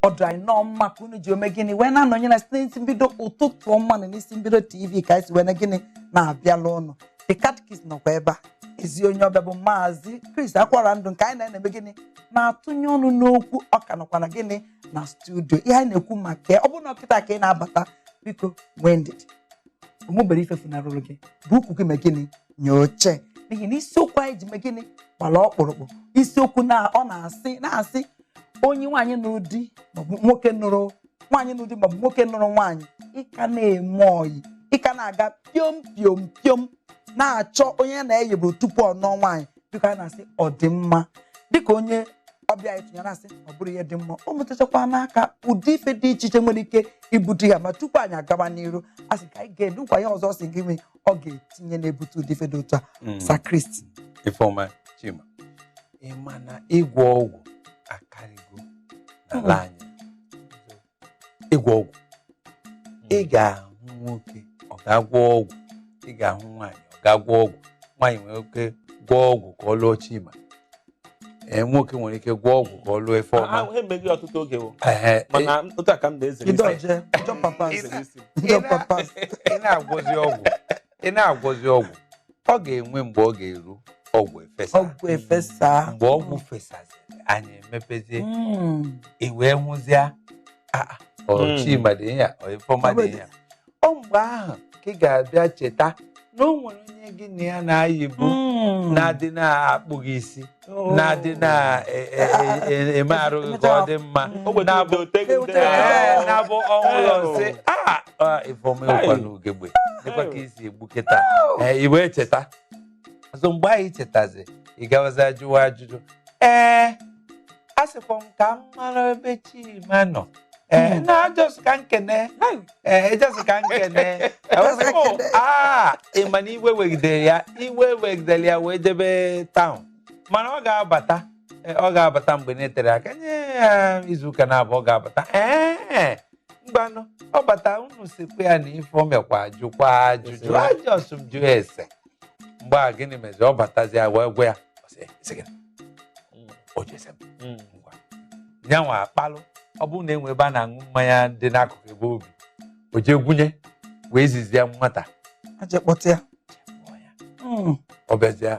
ọ dị anyị nnọọ mma ka unu ji ome gịnị wee na-anọnye anyị site n'isi mbido ụtụtụ ọma na n'isi mbido tv ka anyị si wee na gịnị na-abịala unu the catechist nọkwa ebe a ezi onye ọbịa bụ maazị chris akwarandu nke anyị na-eme gịnị na-atụnye ọnụ n'okwu ọ ka nọkwa na gịnị na studio ihe anyị na-ekwu maka ya ọ bụrụ na ọ kịta ka ị na-abata biko nwee ndidi o nwebero ife funarụrụ gị bu ukwu gị mee gịnị nye oche n'ihi na isiokwu anyị ji mee gịnị gbara ọkpụrụkpụ isiokwu na ọ na-asị na-asị onye nwaanyị nụrụ di maọbụ nwoke nụrụ nwaanyị nụrụ di maọbụ nwoke nụrụ nwaanyị ị ka na-eme ọyị ị ka na-aga piom piom piom na-achọ onye ya na-ayịburu tupu ọ nụọ nwaanyị biko anyị na-asị ọ dị mma dịka onye ọbịa anyị tụnyere a sị ọ bụrọ ihe dị mma o metụtakwara aka ụdị ife dị iche iche nwere ike ibute ya ma tupu anyị agaba n'iru a sị ka anyị ga-edukwa ya ọzọ sị gị mee ọ ga-etinye na-ebute ụdị ife dị otu a Mm. sir chris Ifeoma Chima ị ma na ịgwọ ọgwụ akarịgo n'ala anyị ịgwọ ọgwụ ị ga-ahụ nwoke ọ ga-agwọ ọgwụ ị ga-ahụ nwaanyị ọ ga-agwọ ọgwụ nwaanyị nwere ike gwọọ ọgwụ ka ọ lụọ Chima ee, nwoke nwere ike gwọọ ọgwụ ka ọ lụọ ifeoma ahụ emeghị ọtụtụ oge o Ehe, mana otu a ka m na-ezere isi I dodge, I jump am pass, Ezere isi. Ido Papas. ị na-agwọzi ọgwụ ị na-agwọzi ọgwụ ọ ga-enwe mgbe ọ ga-eru ọgwụ efesa Ọgwụ efesa. mgbe ọgwụ fesaziri anya emepezie Mm. i wee hụzịa "Ah, ah, ọ Mm. chima dị ya ọ ifeoma dị ya ọ mgbe ahụ ka ị ga-abịa cheta na o nwere onye gị na ya na-ayịbu Mm. na-adị na-akpụ gị isi Oh. na-adị na-eme arụ gị ka ọ dị mma Ogbe na-abụ ndị oteghi ndị Ee, na-abụ. na-abụ ọnwụ ụlọ nsị a ifeọma ịwụkwa n'ugegbe dịkwa ka isi egbu kịta Ee, i wee cheta ọzọ mgbe a ị chetazi ị gawazi ajụwa ajụjụ ee a sịkwa m ka m mara ebe chima nọ ee Hmm. na just ka m kene ee just ka m kene Just ka Oh, m kene. ah, ị ma na iwe wegidere ya iwe wegidere ya wee jebe town mana ọ ga-abata ee, ọ ga-abata mgbe na-eterọ aka nye ya izu ụka naabọ ọ ga-abata ee mgbanụ ọ bata unu sịkwa ya na ifeoma kwa jụkwa ajụjụ Kwesịrị. just m jụ ese mgbe a gịnị meziri ọ batazia a wee gwa ya ọ sị, "Sị gịnị? ọ jụ ese m Mm. ngwa ya nwa akpalụ ọ bụrụ na e nwee ebe a na-aṅụ mmanya dị n'akụkụ ebe obi o jee gwunye wee zizie nwata a jee kpọta ya mụọ ya. Mm. ọ bịazie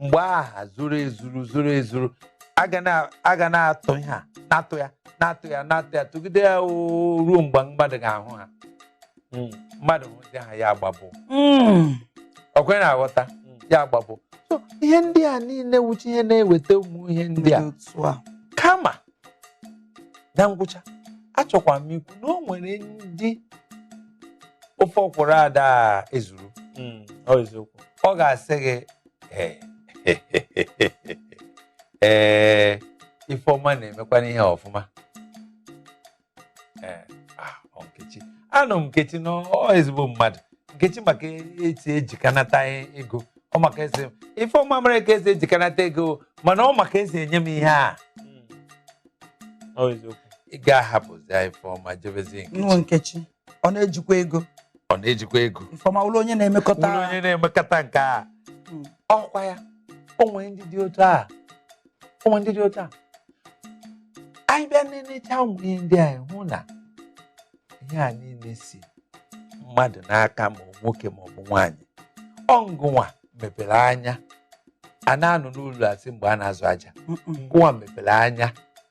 mgbe aha zuru ezuru zuru ezuru a ga na- a ga na-atụ ha na-atụ ya na-atụ ya na-atụ ya tụgide ya oo, ruo mgbe mmadụ ga-ahụ ha Mm, mmadụ hụzi ha ya agbabụ Mm. ọkwa ị na-aghọta ya agbabụ So, ihe ndị a niile wụcha ihe na-eweta ụmụ ihe ndị a Dị otu a. kama na ngwụcha achọkwa m ikwu na o nwere ndị ofe ọkwụrụ ada ezuru Mm, ọ eziokwu ọ ga-asị gị "Eh, ee Ifeọma na-emekwana ihe ọfụma Eh, ah, ọ Nkechi anụ m Nkechi na ọ ezigbo mmadụ Nkechi ma ka esi ejikanata ego ọ ma ka esi Ifeọma mara ka esi ejikanata ego mana ọ ma ka esi enye m ihe a Ọ eziokwu. ị ga-ahapụzi Ifeọma jebezi Nkechi nwa Nkechi ọ na-ejikwa ego ọ na-ejikwa ego Ifeọma wụrụ onye na-emekọta wụrụ onye na-emekọta nke a Mm. ọkwa ya o nwere ndị dị otu a o nwere ndị dị otu a anyị bịa na-enecha ụmụ ihe ndị anyị hụ na ihe a niile si mmadụ n'aka ma nwoke ma ọ bụ nwaanyị ọ ngụ nwa mepere anya a na-anọ n'ụlọ a sị mgbe a na-azụ aja Mm-mm. ngụ nwa mepere anya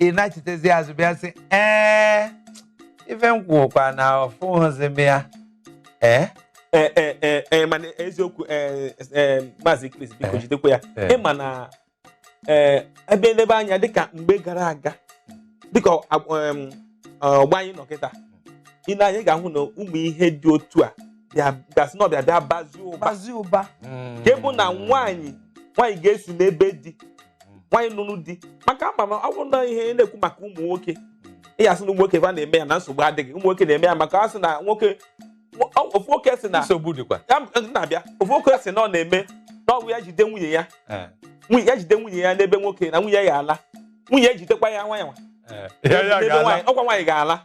ị nachitezi azụ bịa sị ee ife m kwuokwa na ọfụghịzi m ya ee Ee, ee, ee, ee, mana eziokwu ee, ee, maazị Chris biko Eh. jidekwa ya Eh. ị ma na ee, a bịa elebe anya dịka mgbe gara aga dịka ọ- em, ọgbọ anyị nọ kịta ị nee anya ị ga-ahụ na ụmụ ihe dị otu a bịa- ga-asị na ọ bịa bịa bazie ụba bazi ụba nke bụ na nwaanyị nwaanyị ga-esi n'ebe di nwaanyị nụrụ di maka ama m ọ bụrụ na ihe ị na-ekwu maka ụmụ nwoke ị ya-asị na ụmụ nwoke va na-eme ya na nsogbu adịghị ụmụ nwoke na-eme ya maka a sị na nwoke ofu nwoke si na nsogbu dịkwa na-abịa ofu nwoke si na ọ na-eme na ọ bụrụ ya jide nwunye ya nwunye ya jide nwunye ya n'ebe nwoke na nwunye ya ala nwunye ya jidekwa ya nwa ya nwa ọkwa nwaanyị ga-ala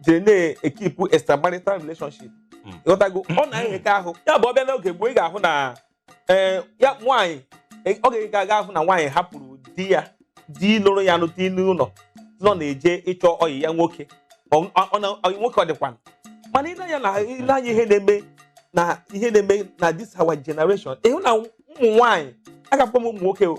jiri na-ekeep extramarital relationship Mm. ị ghọtago ọ na-enyeka ahụ ya bụ ọ bịa n'oge gboo ị ga-ahụ na ee, ya nwaanyị e- ọ ga-ega aga ahụ na nwaanyị hapụrụ di ya di lụrụ ya nụta n'ụlọ nọ na-eje ịchọ ọyị ya nwoke Ọ- ọ- ọ na- ọyị nwoke ọ dịkwa mana i lee anya na i lee anya ihe na-eme na ihe na-eme na this our generation ị hụ na ụmụ nwaanyị agakwa m ụmụ nwoke o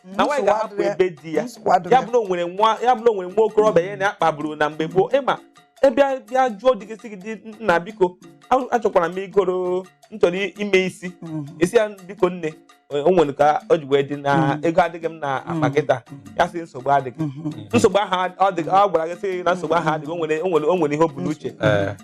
na nwaanyị ga-ahapụ ebe di ya ya bụrụ o nwere nwa ya bụrụ o nwere nwa okorobịa ya na ya kpaburu na mgbe gboo ị ma ị bịa bịa jụọ di gị sị gị di nna biko achọkwara m ịgọrọ m chọrọ ime isi mhm. ị sị ya biko nne o nwere ka o ji wee dị na mhm. ego adịghị m n'akpa mhm. kịta ya sị nsogbu adịghị nsogbu ahụ ọ gwara gị sị na nsogbu ahụ adịghị o nwere ihe o bu n'uche eh.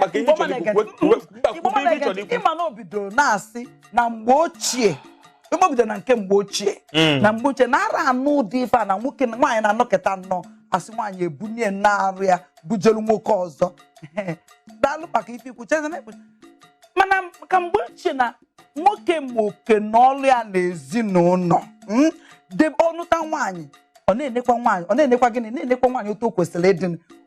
maka ihe chọrọ ikwu kwube ihe chọrọ ikwu ị ma na o bidoro na-asị na mgbe ochie igbo bidoro na nke mgbe ochie hmm. na mgbe ochie na ara anụ ụdị ife a na nwoke nwaanyị na-anọkịta nnọọ a sị nwaanyị ebunie n'arụ ya bujelu nwoke ọzọ daalụ maka ife i kwu chezina mana ka mgbe ochie na nwoke ma oke na ọlụ ya na ezinụlọ mm, debe ọ nụta nwaanyị ọ na-enekwa nwaanyị ọ na-enekwa gịnị na-enekwa nwaanyị otu o kwesịrị ịdị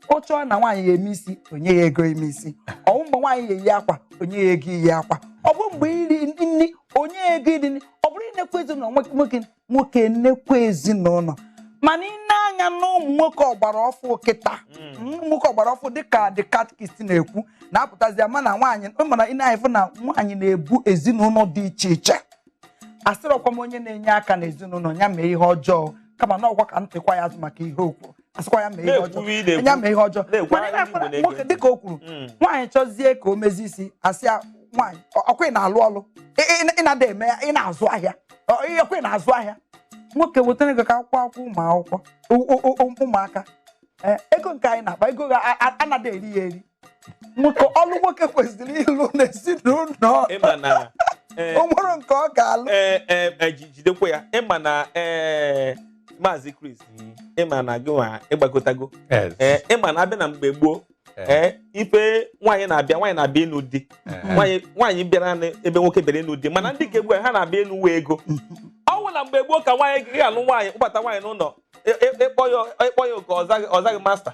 ọ chọọ na nwaanyị ya eme isi o nye ya ego ime isi ọ bụ mgbe nwaanyị ya eyi akwa o nye ya ego iyi akwa ọ bụ mgbe iri nri o nye ya ego iri nri ọ bụrụ inekwa ezinụlọ nwoke nwoke nwoke enekwa ezinụlọ mana ị nee anya na ụmụ nwoke ọgbara ọfụ kịta ụmụ nwoke ọgbara ọfụ dịka the catechist na-ekwu na-apụtazi ama na nwaanyị mana ị nee anya ị fụ na nwaanyị na-ebu ezinụlọ dị iche iche asịrọkwa m onye na-enye aka n'ezinụlọ ya mee ihe ọjọọ kama na ọkwa ka m tikwa ya azụ maka ihe o kwu asịkwa ya mee ihe Na-ekwuwe ị ọjọọ na-ekwu. ya mee ihe ọjọọ Na-ekwu mana ị ahụ na-afụ na Igbo nwoke na-ege. dịka o kwuru Mm. nwaanyị chọzie ka o mezi isi a sị ya nwaanyị ọ- ọkwa ị na-alụ ọlụ Ị- ị- ị na-ada eme ya ị na-azụ ahịa Ọ- ị- ọkwa ị na-azụ ahịa nwoke wetara ego ka a kwụọ ụgwọ akwụkwọ ụmụ akwụkwọ ụ- ụ- ụ- ụmụaka Ee, ego nke anyị na-akpa ego ga- a- a- anaghị eri ya eri nwoke ọlụ nwoke kwesịrị ịlụ n'ezinụlọ ị ma na eh, o nwere nke ọ ga-alụ eh, eh, eh, ji- jidekwa ya ị ma na eh, maazị Chris ị ma na gị nwa ị gbagotago Yes. Eh, ị ma na a bịa na mgbe gboo Eh. eh, ife nwaanyị na-abịa nwaanyị na-abịa ịnụ di Eh. nwaanyị nwaanyị bịara na- ebe nwoke bịara ịnụ di mana ndị ke ugbu a ha na-abịa ịnụ uwe ego ọ bụ na mgbe gboo ka nwaanyị ga-alụ nwaanyị kpọbata nwaanyị n'ụlọ ị kpọ ya ị kpọ ya oke ọ zaghị ọ zaghị masta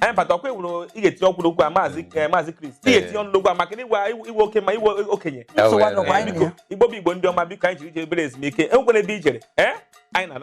anyị bata ọkwa ewuru ị ga-etinye okwu n'okwu a maazị eh, maazị Chris ị ga-etinye ọnụ n'okwu a maka na ị wụ ị wụ oke ma ị wụ okenye Nsogbu adọkwa anyị na ya. igbo bụ igbo ndị ọma biko anyị jiri jee obere ezumike enwekwana ebe i jere ee anyị na